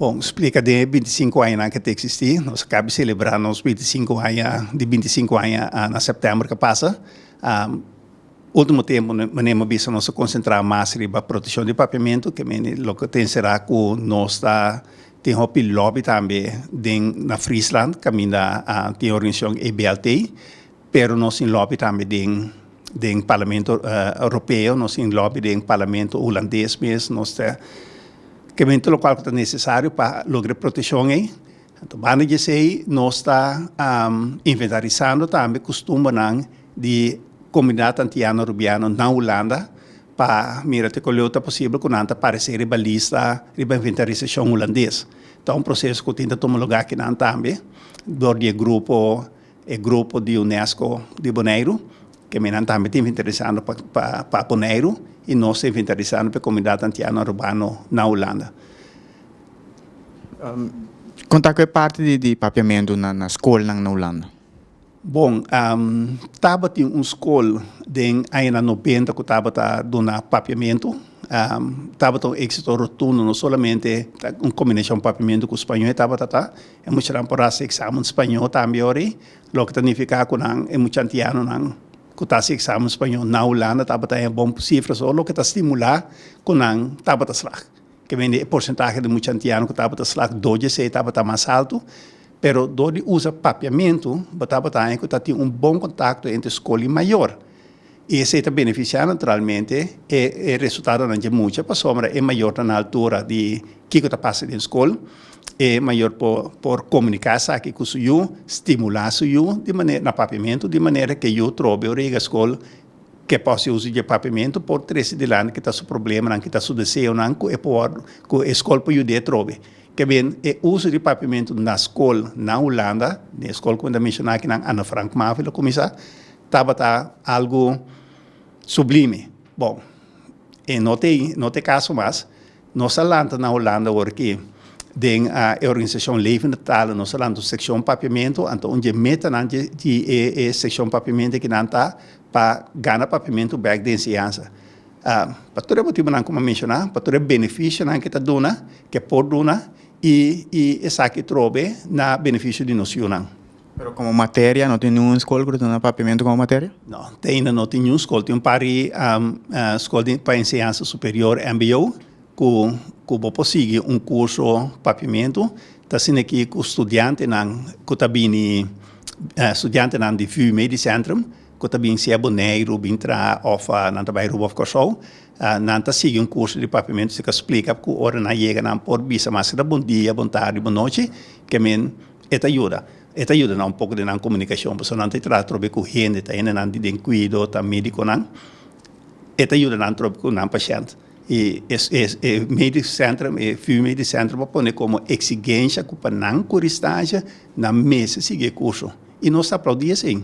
Bon, splika den e binti sinku añanan ke ta eksistí. Nos a kaba di selebrá nos binti sinku aña, di binti sinku aña na sèptèmber ke pasa. Último tempu mane m'ha bisa nos ta konsentrá mas riba proteshon di papiamentu, ke mene loke ta enserá ku nos ta tin hopi lòbi tambe den na Friesland kaminda tin e organizashon EBLT. Pero nos tin lobby tambe den den Parlamento Ropeo, nos tin lobby den Parlamento Hulandes mes, nos ta kimente lokual ku ta nesesario pa logra e proteshon ei. Anto banda di esei nos ta inventarisando tambe kustumbernan di komunidat antiano Rubiano na Hulanda pa mira te kuleu ta posibel ku nan ta paresé riba lista riba inventarisashon Hulandes. Ta un proseso ku tin ta tuma lugá kinan tambe dor di e grupo E grupo di Unesco di Boneiru, ke minan tambe ta inventarisando pa Boneiru i nos ta inventarisando pa e komunidat antiano Arubano na Hulanda. Kon ta ku e parti di papiamentu na skolnan na Hulanda? Bon, tabatin un skol den añanan nobenta ku tabata duna papiamentu. Tabata un éksito rotundo, no solamente un kombinashon papiamentu ku spañó e tabata ta, E muchanan por hasi examen spañó tambe ori, loke ta nifiká ku nan, e mucha antianonan ku ta hasi examen spañó na Hulanda tabata hen bon sifra so, loke ta stimulá ku nan tabata slag. Keme di e porsentahe di mucha antiano ku tabata slag dor di esei tabata mas altu, pero dor di usa papiamentu bo tabata hen ku ta tin un bon kontakto entre skol i mayor. I esei ta benefisiá naturalmente e e resultadonan dje mucha pasobra e mayor ta na altura di kiko ta pasa den skol. E mayor por por komuniká esaki ku su yu, stimulá su yu di mane na papiamentu di manera ke yu trobe ora yega skol ke por hasi uso dje papiamentu por trese dilanti kita su problemanan, kita su deseonan ku e por ku e skol por yud'é trobe. Ta bin e uso di papiamentu na skol na Hulanda, den e skol ku mi ta menshona aki nan Anne Frank Mavil a kuminsá, Tabata algu sublime. Bon, e no t'e no t'e kaso mas. Nos a lanta na Holanda ora ke den e organisashon Levende Talen nos a lanta un sekshon Papiamentu, anto un dje metanan dje di e e sekshon Papiamenti ke nan ta pa gana papiamentu bek di enseñansa. Pa tur e motibunan ku m'a menshoná, pa tur e benefishonan ke ta duna, ke por duna i i esaki trobe na benefisho di nos yunan. Pero como materia no tin ningun skol cu ta duna Papiamento como materia? No, te ainda no tin ningun skol. Tin un par di skol di pa enseñansa superior, mbo, cu cu bo por sigui un curso Papiamento. Ta asina aki cu studiantenan cu ta bini studiantenan di VU Medicentrum cu ta bin sea Boneiru bin traha of nan ta bai Aruba of Curaçao nan ta sigui un curso di Papiamento si ta splica cu ora nan yega nan por bisa mas ke ta bon dia, bon tardi, bon nochi ke men E ta yuda. E ta yuda nan un poco den nan comunicacion, pasobra nan ta e traha trobe cu hende, ta hende nan di den cuido, ta mediconan. E ta yuda nan trobe cu nan pashent. Y e e medic center, e VU Medic Center por pone como exigencia cu pa nan cu ristancia, nan mester sigui e curso. Y nos ta aplaudi esey.